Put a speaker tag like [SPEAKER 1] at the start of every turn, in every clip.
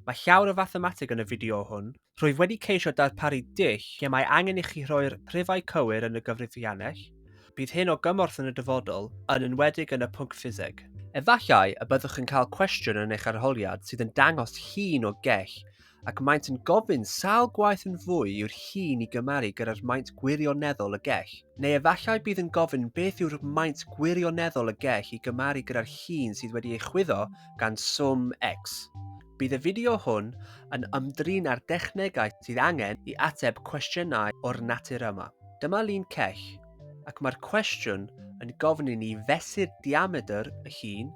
[SPEAKER 1] Mae llawer o fathemateg yn y fideo hwn. Rwyf wedi ceisio darparu dull lle mae angen i chi rhoi'r rhifau cywir yn y gyfrifiannell. Bydd hyn o gymorth yn y dyfodol, yn enwedig yn y pwnc ffiseg. Efallai y byddwch yn cael cwestiwn yn eich arholiad sydd yn dangos llun o gell ac maent yn gofyn sawl gwaith yn fwy yw'r llun i gymaru gyda'r maint gwirioneddol y gell. Neu efallai bydd yn gofyn beth yw'r maint gwirioneddol y gell i gymaru gyda'r llun sydd wedi ei chwyddo gan Swm X. Bydd y fideo hwn yn ymdrin â'r dechnegau sydd angen i ateb cwestiynau o'r natur yma. Dyma lun cech, ac mae'r cwestiwn yn gofyn i ni fesur diamedr y llun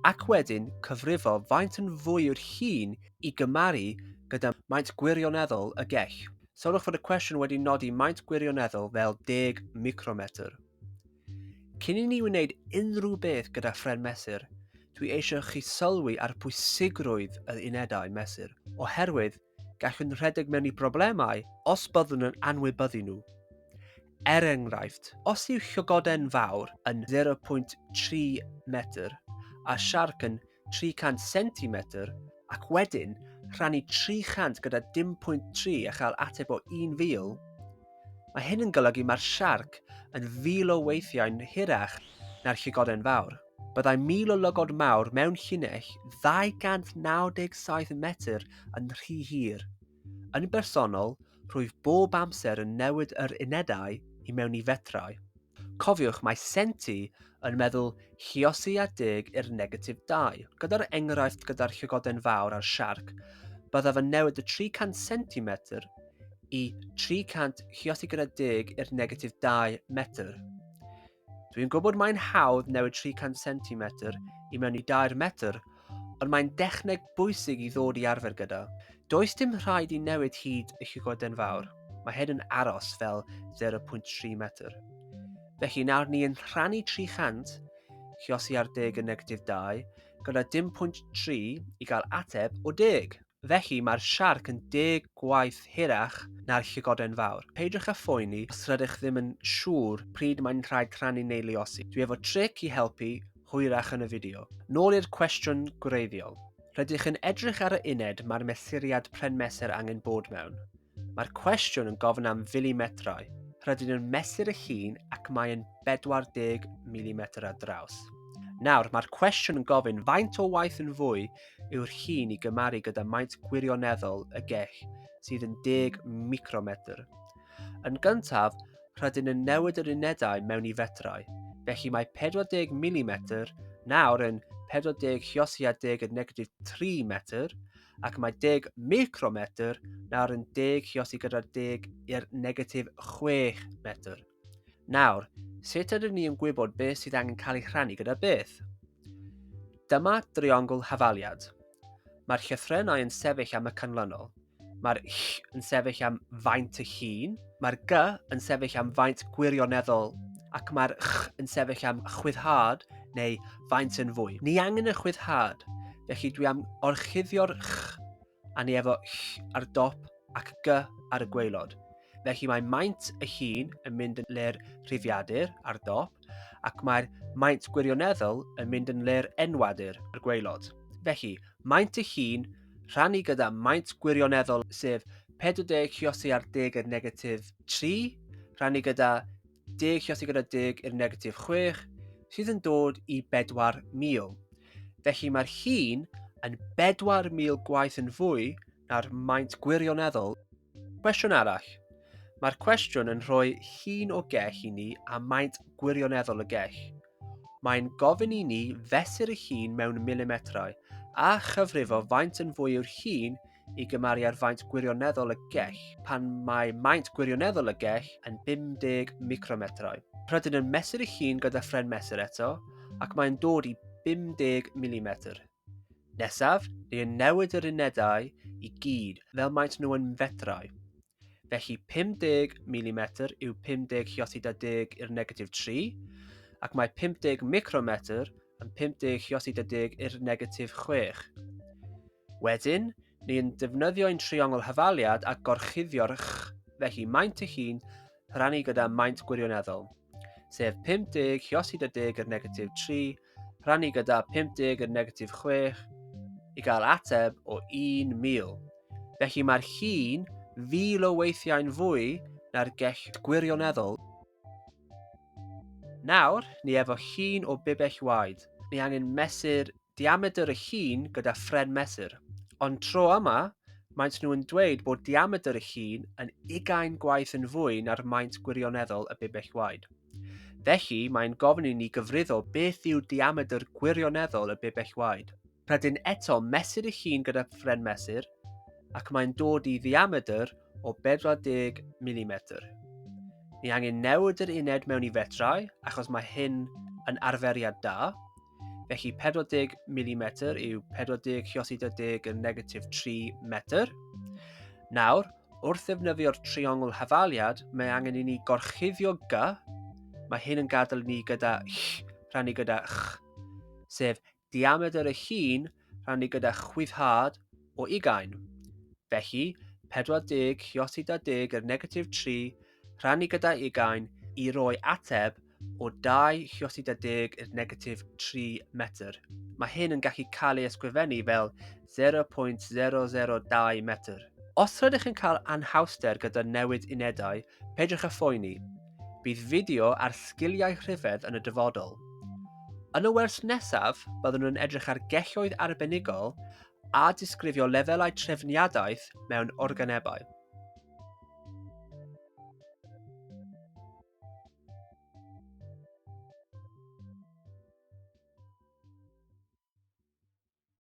[SPEAKER 1] ac wedyn cyfrifo faint yn fwy yw'r llun i gymaru gyda maint gwirioneddol y gech. Sylwch fod y cwestiwn wedi nodi maint gwirioneddol fel 10 micrometr. Cyn i ni wneud unrhyw beth gyda phren mesur, dwi eisiau chi sylwi ar bwysigrwydd yr unedau mesur, oherwydd gallwn rhedeg mewn i broblemau os byddwn yn anwybyddu nhw. Er enghraifft, os yw llygoden fawr yn 0.3 metr a siarc yn 300 centimetr ac wedyn rhannu 300 gyda 10.3 a chael ateb o 1,000, mae hyn yn golygu mae'r siarc yn fil o weithiau'n hirach na'r llygoden fawr. Byddai mil o lygod mawr mewn llinell 297 metr yn rhy hir. Yn bersonol, rwyf bob amser yn newid yr unedau i mewn i fetrau. Cofiwch mae Senti yn meddwl chiosi a deg i'r negatif 2. Gyda'r enghraifft gyda'r llygoden fawr a'r siarc, byddaf yn newid y 300 centimetr i 300 chiosi gyda deg i'r negatif 2 metr. Dwi'n gwybod mae'n hawdd newid 300 cm i mewn i 2 metr, ond mae'n dechneg bwysig i ddod i arfer gyda. Does dim rhaid i newid hyd y llygoden fawr, mae hyn yn aros fel 0.3 metr. Felly nawr ni yn rhannu 300, chiosi ar deg yn negatif 2, gyda dim pwynt 3 i gael ateb o deg. Felly mae'r siarc yn deg gwaith hirach na'r llygoden fawr. Peidiwch â phoeni os rydych ddim yn siŵr pryd mae'n rhaid crannu neu luosi. Dwi efo tric i helpu hwyrach yn y fideo. Nôl i'r cwestiwn gwreiddiol. Rydych yn edrych ar y uned mae'r mesuriad pren-mesur angen bod mewn. Mae'r cwestiwn yn gofyn am filimetrau. Rydyn nhw'n mesur y llun ac mae'n 40 mm ar draws. Nawr, mae'r cwestiwn yn gofyn faint o waith yn fwy yw'r llun i gymaru gyda maint gwirioneddol y gell, sydd yn 10 micrometr. Yn gyntaf, rydyn yn newid yr unedau mewn i fetrau, felly mae 40 mm nawr yn 40 hiosiad 10 yn negatif 3 metr, ac mae 10 micrometr nawr yn 10 chiosi gyda 10 i'r negatif 6 metr. Nawr, sut ydym ni yn gwybod beth sydd angen cael ei rhannu gyda beth? Dyma driongl hafaliad. Mae'r llythrennau yn sefyll am y canlynol. Mae'r ll yn sefyll am faint y hun, mae'r g yn sefyll am faint gwirioneddol, ac mae'r ch yn sefyll am chwyddhad neu faint yn fwy. Ni angen y chwyddhad, felly dwi am orchuddio'r ch a ni efo ll ar dop ac g ar y gwaelod. Felly mae maint y hun yn mynd yn le'r rhifiadur ar dop ac mae'r maint gwirioneddol yn mynd yn le'r enwadur ar gwaelod. Felly, maint y hun rhannu gyda maint gwirioneddol sef 40 ciosi ar deg yn negatif 3 rhannu gyda deg lle os ti'n gyda deg i'r negatif 6, sydd yn dod i 4,000. Felly mae'r hun yn 4,000 gwaith yn fwy na'r maint gwirioneddol. Cwestiwn arall. Mae'r cwestiwn yn rhoi hun o gell i ni a maint gwirioneddol y gell. Mae'n gofyn i ni fesur y hun mewn milimetrau a chyfrifo faint yn fwy yw'r hun i gymaru ar faint gwirioneddol y gell pan mae maint gwirioneddol y gell yn 50 micrometrau. Rydyn yn mesur eich hun gyda ffren mesur eto ac mae'n dod i 50 mm. Nesaf, ni yn newid yr unedau i gyd fel maent nhw yn fetrau. Felly 50 mm yw 50 hiosida deg i'r negatif 3 ac mae 50 micrometr yn 50 hiosida deg i'r negatif 6. Wedyn, ni yn defnyddio un triongl hyfaliad a gorchuddio'r ch, felly maint ei hun rhannu gyda maint gwirioneddol, sef 50 hiosid y deg yr negatif 3 rhannu gyda 50 yr negatif 6 i gael ateb o 1,000. Felly mae'r hun fil o weithiau'n fwy na'r gell gwirioneddol. Nawr, ni efo llun o bibell waed. Ni angen mesur diamedr y llun gyda phren mesur. Ond tro yma, maent nhw yn dweud bod diamedr y llun yn ugain gwaith yn fwy na'r maint gwirioneddol y bibell waed. Felly, mae'n gofyn i ni gyfrifo beth yw diamedr gwirioneddol y bibell waed. Rydyn eto mesur y llun gyda phren mesur, ac mae'n dod i ddiamedr o 40 milimetr. Ni angen newid yr uned mewn i fetrau achos mae hyn yn arferiad da, felly 40 mm yw 40 ciosi 40 yn negatif 3 metr. Nawr, wrth ddefnyddio'r triongl hafaliad, mae angen i ni gorchuddio gy, mae hyn yn gadael ni gyda ch, rhannu gyda ch, sef diamedr y chi'n rhannu gyda chwithad o ugain. Felly, 40 ciosi da deg yr negatif 3 rhannu gyda ugain i roi ateb o 2 ciosi da deg yr negatif 3 metr. Mae hyn yn gallu cael ei ysgrifennu fel 0.002 metr. Os rydych yn cael anhawster gyda newid unedau, peidiwch â phoeni. Bydd fideo ar sgiliau rhyfedd yn y dyfodol. Yn y wers nesaf, byddwn yn edrych ar gelloedd arbenigol a disgrifio lefelau trefniadaeth mewn organebau.